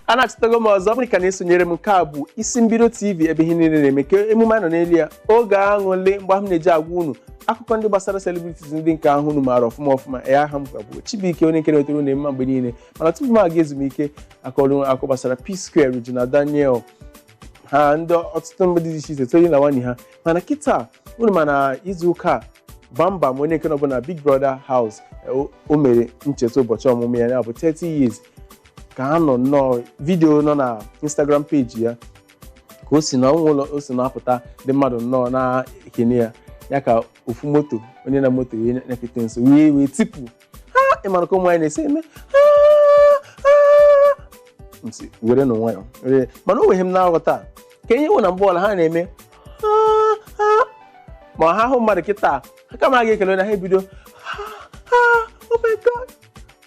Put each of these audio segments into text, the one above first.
anachitago m ọzọ ọ bụrụ ka ị na-esonyere m nke a bụ isi mbido tv ebe ihe niile na-eme ka emume a nọ n'elu ya oge aṅụlị mgbe ahụ m na-eji agwa unu akụkọ ndị gbasara celebrities ndị nke ahụ unu maara ọfụma ọfụma ya aha m ka bụ Chibuike onye nke na-etere unu mma mgbe niile mana tupu m aga ezumike akọrọ m akụkọ gbasara P-Square Regina Daniel ha ndị ọtụtụ mmadụ dị iche iche tonye na nwanyị ha mana kịta unu ma na izu ụka a Bambam onye nke nọbụ na big brother house o- o mere ncheta ụbọchị ọmụmụ ya ya bụ 30 years ka a nọ nnọọ video nọ na instagram page ya ka o si na ọnụ ụlọ o si na-apụta ndị mmadụ nnọọ na-ekene ya ya ka ofu moto onye na moto ya nyakete nso wee wee tipu "Ah, ị mara ka ụmụ nwanyị na-esi eme "Ah, ah." M sị, were nụ nwayọ were mana o nweghị ihe m na-aghọta kee ihe wụ na mgbe ọbụla ha na-eme "Ah, ah." ma ha hụ mmadụ kịta ha kama ha ga-ekele onye ahụ ha ebido "Ah, ah, oh my God."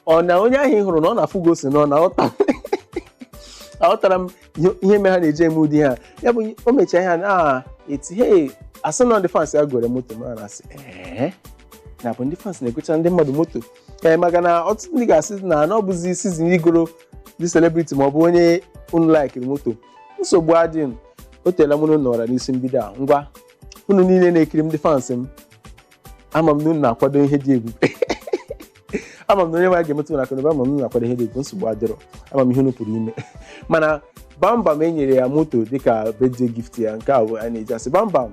ọ na onye ahụ ị hụrụ na ọ na-afụ gị ose n'ọnụ aghọtarọ m ihe- ihe mere ha na-eji eme ụdị ahụ ya bụ o mechaa ihe a na-eti he a sị na ndị fans ya goro moto ma na-asị ee na ọ bụ ndị fans na-egocha ndị mmadụ moto ee maka na ọtụtụ ndị ga-asị na na ọ bụzi season igoro ndị celebrity ma ọ bụ onye unu laikiri moto nsogbu adịghị o teela mụ na unu nọra n'isi mbido a ngwa unu niile na-ekiri m ndị fans m ama m na unu na-akwado ihe dị ebube ama m na onye nwe anyị ga-emetụ unu aka n'obi ama m na unu na-akwado ihe dị ebube nsogbu adịrọ ama m ihe unu pụrụ ime mana bambam e nyere ya moto dịka birthday gift ya nke a bụ a na-eji asị bambam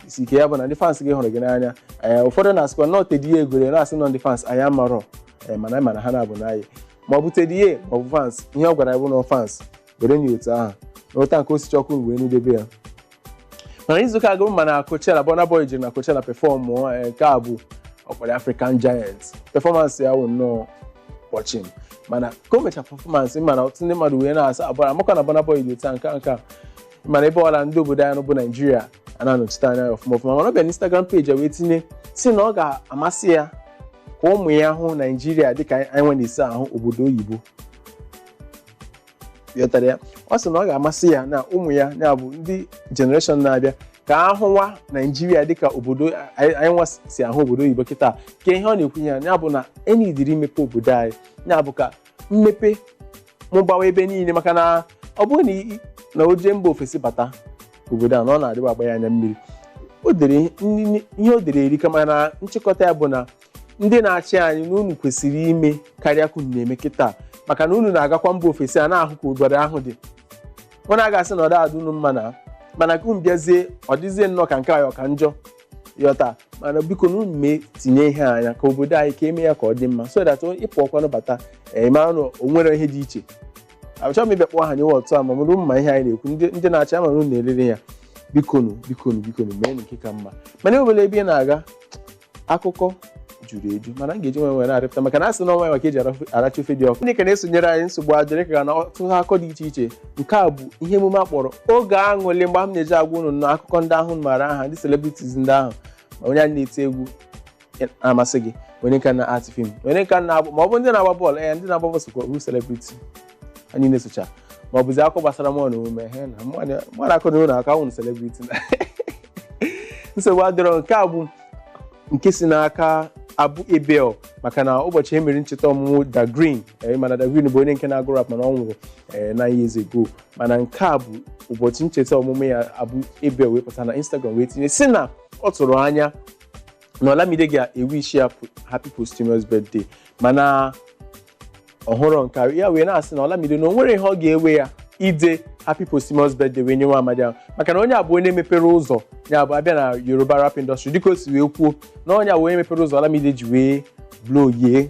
isi ike ya bụ na ndị fans gị hụrụ gị n'anya ee ụfọdụ na-asịkwa na ọ Teddy A goro na-asị na ọ ndị fans anyị amarọ ee mana anyị ma na ha na-abụ enyi ma ọ bụ Teddy A ma ọ bụ fans ihe ọ gwara anyị bụ na fans were nye otu ahụ na ụta nke ọ sị Chukwu wee na-edebe ya mana izuụka a unu ma na Coachella Burna Boy jere na Coachella performụ eh, nke a bụ a kpọrọ African Giant performance ya wụ nnọọ kpọchim mana ka o mecha performance mana ọtụtụ ndị mmadụ wee na-asị ọ bụ maka na Burna Boy dị otu a nke a nke a mana ebe ọbụla ndị obodo anyị bụ Naijiria a na-anọchite anya ya ọfụma ọfụma mana ọ bịa na Instagram page ya wee tinye sị na ọ ga-amasị ya ka ụmụ ya hụ Naijiria dịka anyị nwa na-esi ahụ obodo oyibo ghọtara ya ọ sị na ọ ga-amasị ya na ụmụ ya ya bụ ndị generation na-abịa ka ha hụwa naijiria dịka obodo anyị anyị nwa si ahụ obodo oyibo kịta kee ihe ọ na-ekwu ya ya bụ na e needịrị imepe obodo anyị ya bụ ka mmepe mụbawa ebe niile maka na ọ bụrụ na i- na o jee mba ofesi bata obodo a na ọ na-adịwa agba ya anya mmiri o dere ihe o dere erika mana nchịkọta ya bụ na ndị na-achị anyị na unu kwesịrị ime karịa ka unu na-eme kịta maka na unu na-agakwa mba ofesi a na-ahụ ka obodo ahụ dị unu a ga-asị na ọ da-adị unu mma na mana ka unu bịazie ọ dịzie nnọọ ka nke anyị ọ ka njọ yọta mana biko na unu mee tinye ihe anya ka obodo anyị ka eme ya ka ọ dị mma so that ịpụ ọkwanụ bata ịmara na o nwere ihe dị iche achọghị m ịbịa kpọọ aha onye ọbụla mana unu ma ihe anyị na-ekwu ndị ndị na-achị ama na unu na-elere ya bikonu bikonu bikonu mee nke ka mma mana e nwere ebe ị na-aga akụkọ juru eju mana m ga-eji nwayọ were rọpụta maka na asị na nwayọ ka eji aracha ofe dị ọkụ ndị ka na-esonyere anyị nsogbu adịrọ ịka na ọtụtụ akụkọ dị iche iche nke a bụ ihe emume a kpọrọ oge aṅụlị mgbe m na-eji agwa unu na akụkọ ndị ahụ maara aha ndị celebrities ndị ahụ ma onye na-eti egwu masị gị onye nke na-act film onye nke na-agba ma ọ bụ ndị na-agba bọọlụ ee ndị na-agba bọọlụ sokwa bụ celebrity anyị na-esocha ma ọ bụzi akụkọ gbasara mụ na ume he na mụ na- mụ na akụ na ụlọ aka nwụrụ celebrity na nsogbu adịrọ nke a bụ nke si n'aka Abu Abel maka na ụbọchị e mere ncheta ọmụmụ Dagrin eh, mana Dagrin bụ onye nke na-agụ rap mana ọ nwụrụ eh, nine years ago mana nke a bụ ụbọchị ncheta ọmụmụ ya Abu Abel wee pụta na instagram wee tinye sị na ọ tụrụ anya na olamide ga-ewishi ya happy posthumous birthday mana ọ hụrọ nke a ya wee na-asị na Olamide na o nwerọ ihe ọ ga-ewe ya ide happy posthumous birthday wee nye nwa amadi ahụ maka na onye a bụ onye mepere ụzọ ya bụ a bịa na Yoruba rap industry dịka o si wee kwuo na onye a bụ onye mepere ụzọ Olamide ji wee blow yie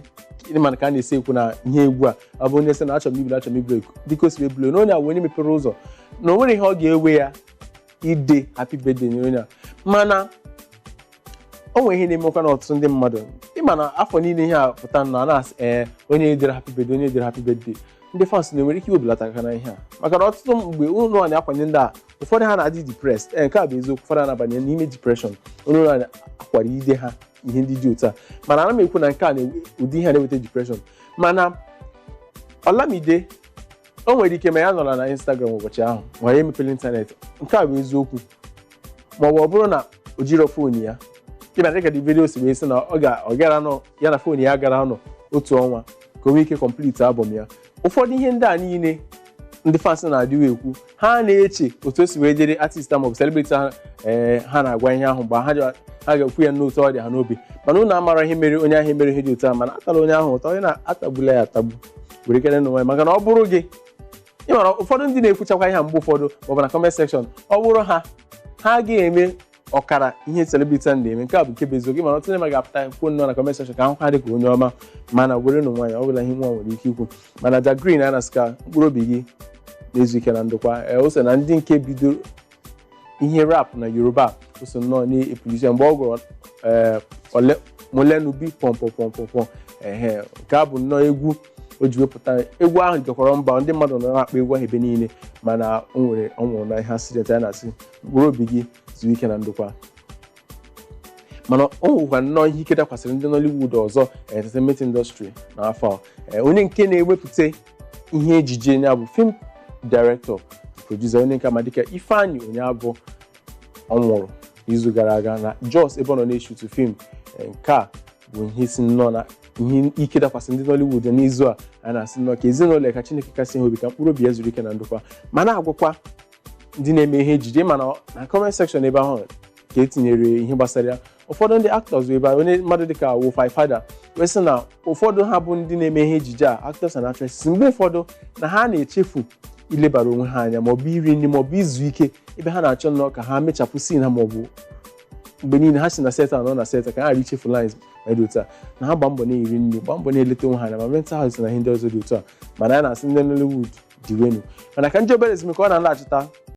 ndị mana ka a na-esi ekwu na ihe egwu a ọ bụ onye sị na achọrọ m ịblow achọrọ m ịblow ekwu dịka o si wee blow na onye a bụ onye mepere ụzọ na o nwerọ ihe ọ ga-ewe ya ide happy birthday nye onye a mana o nwere ihe na-emekwa na ọtụtụ ndị mmadụ ịma na afọ niile ihe a pụta na a na-asị ee onye ederọ happy birthday onye ederọ happy birthday ndị fans unu nwere ike iwebelata aka na ihe a maka na ọtụtụ mgbe unu na-akwanye ndị a ụfọdụ ha na-adị depressed ee nke a bụ eziokwu ụfọdụ a na-abanye n'ime depression unu na-akwara ide ha ihe ndị dị otu a mana ana m ekwu na nke a na-ewe ụdị ihe a na-eweta depression mana Olamide o nwere ike ma ya nọrọ na Instagram ụbọchị ahụ ma ya emeperọ ịntanetị nke a bụ eziokwu ma ọ bụ ọ bụrụ na o jirọ fon ya kịta dịka Davido si wee sị na ọ ga ọ gara nọ ya na fon ya gara nọ otu ọnwa ka o nwee ike complete album ya ụfọdụ ihe ndị a niile ndị fans na-adịwa ekwu ha na-eche otu o si wee dịrị artist a maọbụ celebrity ha ee ha na-agwa ihe ahụ mgbe ha ga- ha ga-ekwu ya n'otu ọ dị ha n'obi mana unu amarọ ihe mere onye ahụ emerọ ihe dị otu a mana atara onye ahụ ụta unu atagbula ya atagbu werekwanụ nwayọ maka na ọ bụrụ gị ị mara ụfọdụ ndị na-ekwuchakwa ihe a mgbe ụfọdụ maọbụ na comment section ọ bụrụ ha ha agaghị eme ọkara ihe celebrity a na-eme nke a bụ nke bụ eziokwu ị mara ọtụtụ ndị mmadụ ga-apụta kwuo nnọọ na comment section ka a hụ ha dị ka onye ọma mana were nụ nwayọ ọ bụla ihe nwa nwere ike ikwu mana Dagrin a na-asị ka mkpụrụ obi gị na-ezu ike na ndokwa ee o so na ndị nke bidoro ihe rap na Yoruba o so nnọọ na-epulisi mgbe ọ gụrụ ee ole molenubi pọmpọpọmpọpọ ehe nke a bụ nnọọ egwu o ji wee pụta egwu ahụ jekwara mba ndị mmadụ nọ na-akpọ egwu ahụ ebe niile mana o nwere ọ nwụrụ na ihe accident a na-asị mkpụrụ obi gị zuo ike na ndokwa mana o nwekwa nnọọ ihe ike dakwasịrị ndị Nollywood ọzọ entertainment industry n'afọ a. Ee, onye nke na-ewepụta ihe ejije ya bụ film director producer onye nke a ma dịka Ifeanyi Onyeabọ ọ nwụrụ n'izu gara aga na Jos ebe ọ nọ na-eshutu film Eh, nke a bụ ihe so nnọọ na ihe ike dakwasị ndị Nollywood n'izu a a na-asị nnọọ ka ezinụlọ ya ka Chineke kasie ha obi ka mkpụrụ obi ya zuru ike na ndokwa ma na-agwakwa ndị na-eme ihe ejije mana na comment section ebe ahụ ka e tinyere ihe gbasara ya ụfọdụ ndị actors bụ ebe a, onye mmadụ dịka Wofai Fada wee sị na ụfọdụ ha bụ ndị na-eme ihe ejije a actors and actresses mgbe ụfọdụ na ha na-echefu ilebara onwe ha anya maọbụ iri nri maọbụ izu ike ebe ha na-achọ nnọọ ka ha mechapụ scene ha maọbụ mgbe niile ha si na set a nọ na set a ka ha ghara ichefu lines ma dị otu a na ha gba mbọ na-eri nri gba mbọ na-eleta onwe ha anya ma mental health na ihe ndị ọzọ dị otu a mana a na-asị ndị Nollywood diwenụ mana ka anyị jee obere ezumike ọ na-alaghachita